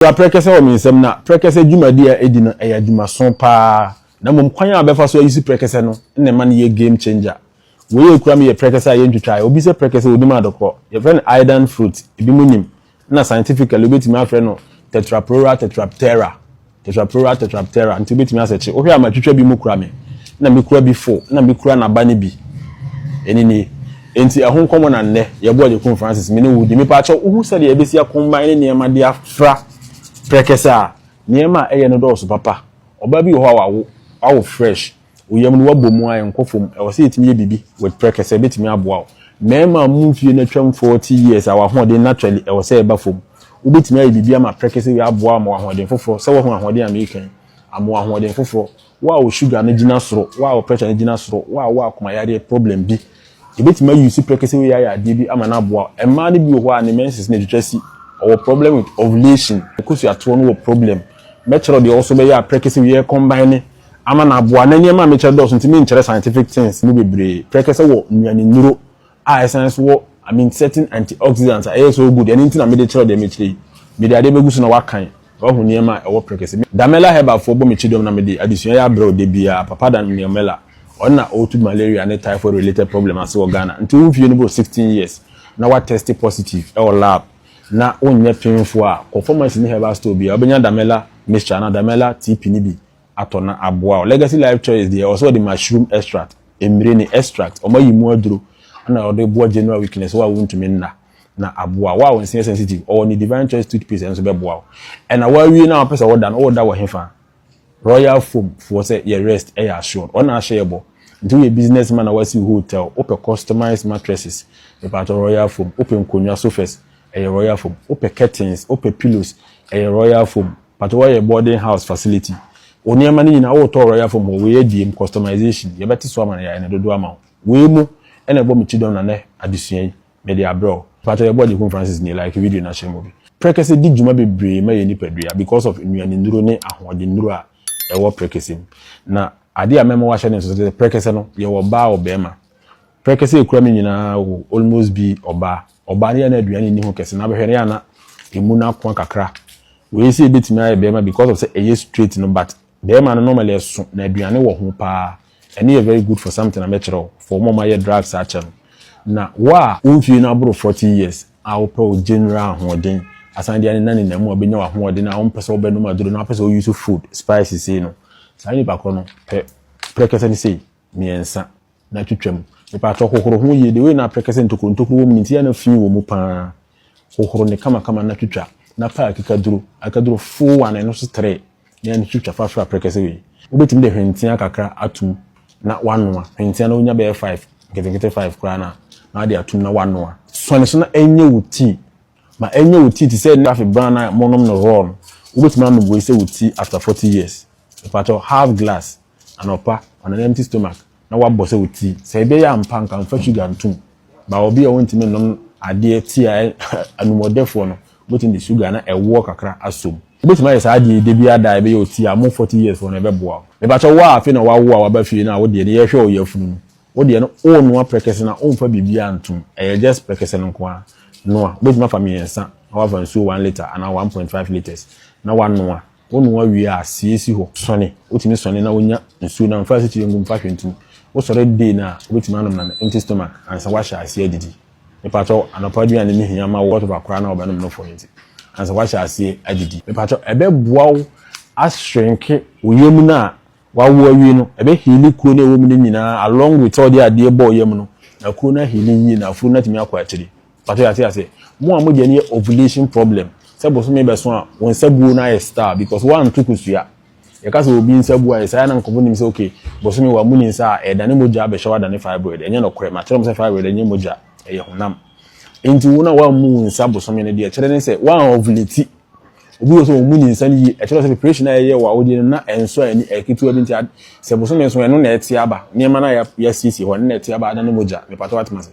Okura prɛkɛsɛ wɔ me nsam na prɛkɛsɛ dwumadi a edi no yɛ adwumaso paa na mmom kwan a ɔbɛfa so ayusu prɛkɛsɛ no na ɛma no yɛ game changer. Wei a okura me yɛ prɛkɛsɛ a yentwitwae, obi sɛ prɛkɛsɛ onim adɔkɔ, yɛfrɛ no iodine fruit, ebinom nim, ɛna scientifically wobetumi afrɛ no Tetraprohora tetraptera, Tetraprohora tetraptera, nti wobetumi asɛ kye. Wohwɛ a matwitwa bi mu kura me na mekura bi fo na mekura n'aba no bi, ɛno nie. Enti ɛho nkɔmmɔ na nnɛ yɛbɔ Agyekum Francis me ne wo di. Mepaakyɛw, wuhu sɛdeɛ yɛbɛsi akomman ne nneɛma de afra prɛkɛsɛ a? Nneɛma a ɛyɛ no dɔɔso papa. Ɔbaa bi wɔ hɔ a wawo, wawo fresh, wo yam no woabɔ mu a ɛnkɔ fam. Ɛwɔ sɛ yɛtumi yɛ biribi with prɛkɛsɛ, ɛbɛtumi aboa wo. Mmarima a wɔn mfeɛ no atwam 40 years a wɔn ahoɔden naturally ɛwɔ sɛ ɛba fam. Wobɛtumi ayɛ biribi ama prɛkɛsɛ wei aboa wo ama wo ahoɔden foforɔ, sɛ woahu ahoɔden a mereka yi, ama wo ahoɔden foforɔ. Wo a wo sugar no gyina soro, wo a wo pressure no gyina soro, wo a wo akoma yareɛ problem bi, yɛbɛtumi a use prɛkɛsɛ wei ayɛ adeɛ bi ama no aboa wo. Mmaa no bi wɔ hɔ a ne menses no atwitwa si, ɔwɔ problem with ovulation, ne kosuatoɔ no wɔ problem. Mɛkyerɛ wo deɛ ɔwɔ so bɛyɛ a prɛkɛsɛ wei ɛcombine ama no aboa. Na nneɛma a mekyerɛ dɔɔso nti menkyerɛ scientific things no bebree. Prɛkɛsɛ wɔ nnuanennuro a ɛsan nso wɔ I mean certain antioxidants a ɛyɛ so good ɛno nti na mede kyerɛw deɛ mekyerɛ yi mede adeɛ bɛgu so na wakan wahu nneɛma a ɛwɔ prekese Damela herbal foɔ bɔ me kyidɔm na mede adesua yɛ abrɛ wo da biara papa da Damela ɔno na ɔtu malaria ne typhoid related problem ase wɔ Ghana nti wo mfie no boro 16 years na wa test positive ɛwɔ lab na wonyɛ pemfoɔ a kɔ pharmacy ne herbal store biara wobɛnya Damela mixture anaa Damela TP no bi atɔ na aboa wo. Legacy Life Choice deɛ ɔsɛ ɔde mushroom extract, mmire ne extract, wɔn ayi mu aduro na ɔde boa general weakness wo a wontumi nna na aboa wo a wo nse yɛ sensitive ɔwɔ ne Divine Choice toothpaste nso bɛboa wo. Ɛna woawie na wopɛ sɛ woda no woda wɔ hefa? Royal Foam foɔ sɛ yɛ rest yɛ assured wɔn na ahyɛ yɛ bɔ nti woyɛ business man na woasi wo hotel wopɛ customized mattresses mepaatɔ Royal Foam wopɛ nkonnwa sofas ɛyɛ Royal Foam wopɛ curtains wopɛ pillows ɛyɛ Royal Foam Pato hɔ yɛ boarding house facility. Wo nneɛma no nyinaa wotɔ Royal Foam hɔ, wei adiem, customization, yɛbɛte so ama no, yɛayɛ no dodoɔ ama wo. Wei mu na ɛbɔ me ti dɔm na nnɛ adesua yi, mede abrɛ wo. Pato yɛboa Gyekum Francis nie, like video no akyerɛ mu bi. Prɛkɛsɛ di dwuma bebree ma yɛn nipadua because of nnuane nnuro ne ahoɔden nnuro a ɛwɔ prɛkɛsɛ mu. Na adeɛ a mɛma woahyɛ no nso sɛ prɛkɛsɛ no, yɛwɔ ɔbaa ɔbarima, Pɛ kɛse a ekura me nyinaa wo almost bi ɔbaa ɔbaa no yɛ a na aduane nni ho kɛse na bɛhwɛ no yɛ a na emu no akoa kakra wei sɛ ebetumi ayɛ bɛɛma because of sɛ ɛyɛ straight no but bɛɛma no normally ɛso na aduane wɔ ho paa ɛno yɛ very good for something a mɛkyerɛ wo for wɔn a wɔayɛ drugs akyɛ no na wo a wo mfie no aboro forty years a wopɛ wo general ahoɔden asan de anena nena mu a wobɛnya w'ahoɔden a wompɛ sɛ wobɛnom aduro na wopɛ sɛ wo use food spices sei no saa nipa korɔ no pɛ prɛkɛsɛ no sei mmiɛnsa na twitwa mu. Mepaatɔ hohoro ho yie. The way na aprɛkɛ sɛ ntokuro ntokuro wɔ mu nti yɛ na fii wɔ mu paa. Hohoro ne kama kama na twitwa. Na paa akikaduro akaduro full one ɛno so three na yɛ na twitwa fa soro aprɛkɛ sɛ wei. Wobɛtumi de hwentia kakra atum na wanoa. Hwentia na wonya bɛyɛ five nketenkete five koraa na na wade atum na wanoa. Sɔne so na ɛnyɛ wo tii. Ma ɛnyɛ wo ti te sɛ Nɛscafe bran no a monom no raw no, wobɛtumi anom wei sɛ wo ti after 40 years. Mepakyɛw, half glass anɔpa on an empty stomach na woabɔ sɛ wo ti. Sɛ ɛbɛyɛ ampa nka mfa sugar ntom, but obi a ɔntumi nnom adeɛ ti a anumɔdɛfoɔ no, wobɛtumi de sugar na ɛwoɔ kakra asɔm. Wobɛtumi ayɛ saa adeɛ yi da biara da a ɛbɛyɛ wo ti a, mo 40 years foɔ no ɛbɛboa wo. Mepakyɛw, wo a afei na woawo a woaba fie no a wo deɛ no yɛhwɛ wo yafunu no, Wo deɛ no wonoa prɛkɛsɛ na womfa biribiara ntom, ɛyɛ just prɛkɛsɛ no nko ara. Noa, wobɛtumi afa mmiɛnsa na woafa nsuo one litre anaa one point five litres na woanoa. Wonoa wie a, sie si hɔ. Sɔne, wotumi sɔne na wonya nsuo no a, mfa asikyire ngu mu, mfa hwee nto mu. Wosɔre day no a, wobɛtumi anom no on empty stomach ansa woahyɛ aseɛ adidi. Mepakyɛ wo, anɔpa aduane no hia ma wo whatever koraa na wobɛnom no for no nti, ansa woahyɛ aseɛ adidi. Mepakyɛ wo, ɛbɛboa wo ashrinke wo yam no a Wawo awie no, ɛbɛ heali kuro no a ɛwɔ mu no nyinaa along with sɛ ɔde adeɛ bɔɔ yam no, na kuro no aheali yie na afuro no atumi akɔ akyire. Mpakyɛw yɛate aseɛ? Mo a mo deɛ no yɛ ovulation problem, sɛ bosome bɛso a wo nsa buo no ayɛ star because woanto kosua. Yɛka sɛ obi nsa buo ayɛ saa a na nkorɔfoɔ nim sɛ ok bosome wamu ne nsa a ɛredane mogya abɛhyɛw adane fibroid. Ɛnyɛ nɔkorɛ, makyerɛ mo sɛ fibroid ɛnyɛ mogya, ɛyɛ honam. Enti wo no a woammu wo nsa bosome no deɛ ɛkyerɛ ne sɛ woan ovulate. Obi wɔ sɛ wɔn mu nyinsɛn yie. Ɛkyerɛ sɛ preparation a yɛyɛ wɔ awodie no na ɛnso a ɛni ɛketewa bi nti sɛ bosome nso ɛno na ɛte aba nneɛma no a yɛasiesie hɔ ɛno na ɛte aba adane mogya mepatɛ watema se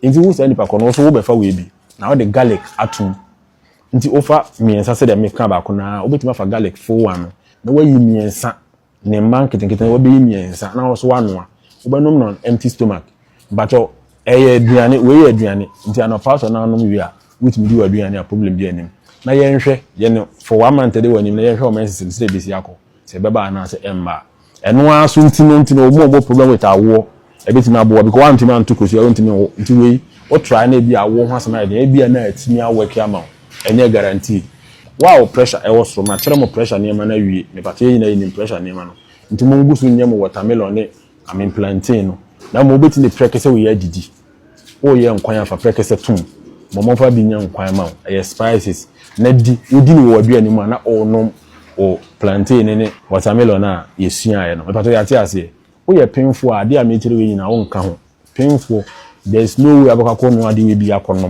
nti wo saa nipa kɔ no wo so wobɛfa wei bi na wode garlic atom nti wofa mmiɛnsa sɛdeɛ meka baako no a wobɛtumi afa garlic fo ano na wayi mmiɛnsa Ne mma nketenkete no wɔbɛyɛ mmiɛnsa na wɔso wanoa. Wobɛnom no on empty stomach. Mpakyɛw, ɛyɛ aduane, wei yɛ aduane. Nti anɔpa sɛ ɔno anom wie a, wotumi di w'aduane a problem biara nnim. Na yɛnhwɛ, yɛn no for one month ɛde w'anim na yɛnhwɛ wo menses no sɛ ɛbɛsi akɔ, sɛ ɛbɛba anaasɛ ɛmma a. Ɛno ara so nti no nti na wɔn a wɔwɔ problem with awoɔ, Ɛbɛtumi aboa because woantumi anto kosua, wontumi nwo, nti wei wo try na ebi a awo ho asɛm ayɛ den, ebi a na atumi a work ama wo, ɛnyɛ guarantee. Wow pressure ɛwɔ soro, makyerɛ mo pressure nneɛma no awie, mepatɔ yɛn nyinaa yɛnim pressure nneɛma no, nti mo ngu so nyɛ mo watermelon ne I mean plantain no, na mmom wobɛtumi de prɛkɛsɛ wei adidi, woreyɛ nkwan a fa prɛkɛsɛ tom ma ɔmfa bi nyɛ nkwan ma wo, ɛyɛ spices, na di, wodi no wɔ w'aduane mu a na worenom wo plantain ne watermelon a yɛsuaeɛ no, mepatɔ yɛate aseɛ? Woyɛ penfoɔ a, adeɛ a mekyerɛ wei nyinaa wonka ho. Penfoɔ, there's no way wobɛkɔ akɔnoa adeɛ wei bi akɔnom.